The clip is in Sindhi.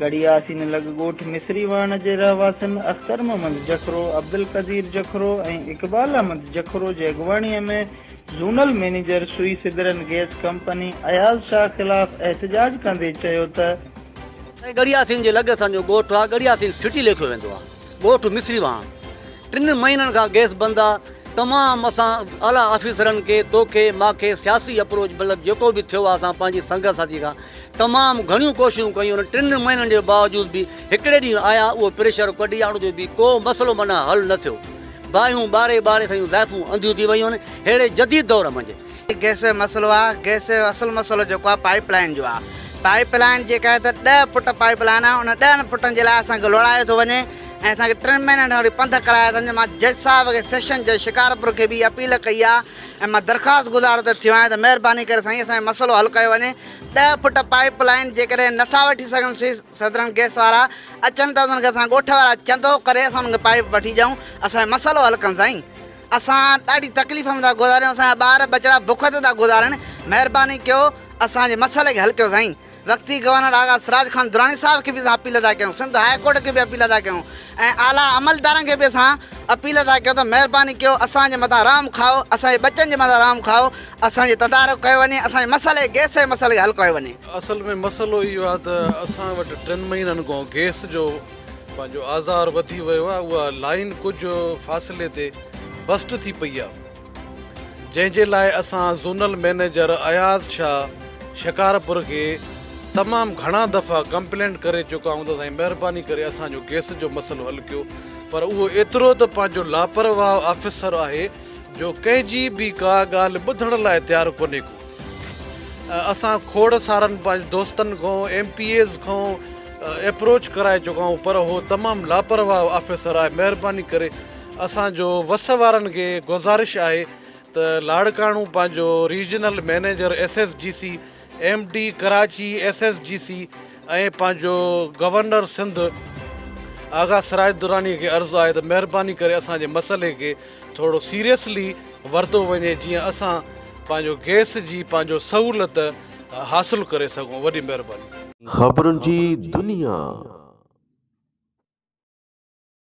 گهڙي آسين لڳ ڳوٺ مصري واهڻ جي رهواسين اختر محمد جکرو، عبدالقدير جکرو ۽ اقبال احمد جکرو جي اڳواڻيء ۾ zonal manager Sui southern gas company Ayaz Shah خلاف احتجاج ڪندي چيو ته، ڳڙهي آسين جي لڳ اسان جو ڳوٺ آهي، ڳڙهي آسين سٽي ليکيو ويندو آهي، ڳوٺ مصري واهڻ ٽن مهينن کان گئس بند آ تمام اسان اعليٰ آفيسرن کي توکي ماکي سياسي اپروچ مطلب جيڪو به ٿيو آ اسان پنهنجي سنگت ساٿي کان تمام گهڻيون ڪوششون ڪيون انهن ٽن مهينن جي باوجود به هڪڙي ڏينهن آيا اهو پريشر ڪڍياڻ جو به ڪو مسئلو معنيٰ حل نه ٿيو باهيون ٻاري ٻاري سيون زائفون انڌيون ٿي ويون آهن ههڙي جديد دور منجهه. هي گئس جو مسئلو آ گئس جو اصل مسئلو جيڪو آ پائيپ لائين جو آ پائيپ لائين جيڪا آهي ته ڏهه فٽ پائيپ لائين آ ان ڏهن فٽن جي لاء اسان کي لوڙايو ٿو وڃي ۽ اسان کي ٽن مهينن کان وٺي پنڌ ڪرايا ٿا وڃن مان جج صاحب کي سيشن جج شڪارپور کي به اها اپيل ڪئي آ ۽ مان درخواست گذار اتي ٿيو آهيان ته مهرباني ڪري سائين اسان جو مسئلو حل ڪيو وڃي ڏهه فٽ پائيپ لائين جيڪڏهن نه ٿا وٺي سگهن سوئس سدرن گئس وارا اچن ته انهن کي اسان ڳوٺ وارا چندو ڪري اسان انهن کي پائيپ وٺي ڏيون اسان جو مسئلو حل ڪن سائين اسان ڏاڍي تڪليف ۾ ٿا گذاريون اسان جا ٻار ٻچڙا بک تي ٿا گذارن مهرباني ڪيو اسان جي مسئلي کي حل ڪيو سائين وقتي گورنر آغا سراج خان دراني صاحب کي به اسان اپيل ٿا ڪيون سنڌ هاء ڪورٽ کي به اپيل ٿا ڪيون ۽ اعليٰ عملدارن کي به اسان اپيل ٿا ڪيون ته مهرباني ڪيو اسان جي مٿان رحم کائو اسان جي ٻچن جي مٿان رحم کائو اسان جي تدارڪ ڪيو وڃي اسان جي مسئلي گئس جي مسئلي کي حل ڪيو وڃي. اصل ۾ مسئلو اهو آهي ته اسان وٽ ٽن مهينن کان گئس جو پنهنجو آزار وڌي ويو آهي اها لائين ڪجهه فاصلي تي بسٽ ٿي پئي آهي جنهن جي لاء اسان زونل مئنيجر اياز شاهه شڪارپور کي تمام گهڻا دفعا ڪمپلينٽ ڪري چڪا آهيون ته سائين مهرباني ڪري اسان جو گيس جو مسئلو حل ڪيو پر اهو ايترو ته پنهنجو لاپرواهه آفيسر آهي جو ڪنهن جي به ڪا ڳالهه ٻڌڻ لاء تيار ڪونهي ڪو اسان کوڙ سارن پنهنجن دوستن کان ايم پي ايز کان ايپروچ ڪرائي چڪائون پر هو تمام لاپرواهه آفيسر آهي مهرباني ڪري اسان جو وس وارن کي گذارش آهي ته لاڙڪاڻو پنهنجو regional manager S S G C M D Karachi S S G C ۽ پنهنجو گورنر سنڌ آغا سراج دراني کي عرض آهي ته مهرباني ڪري اسان جي مسئلي کي ٿورو سيريسلي ورتو وڃي جيئن اسان پنهنجو گيس جي پنهنجو سهولت حاصل ڪري سگهون وڏي مهرباني خبرن جي دنيا.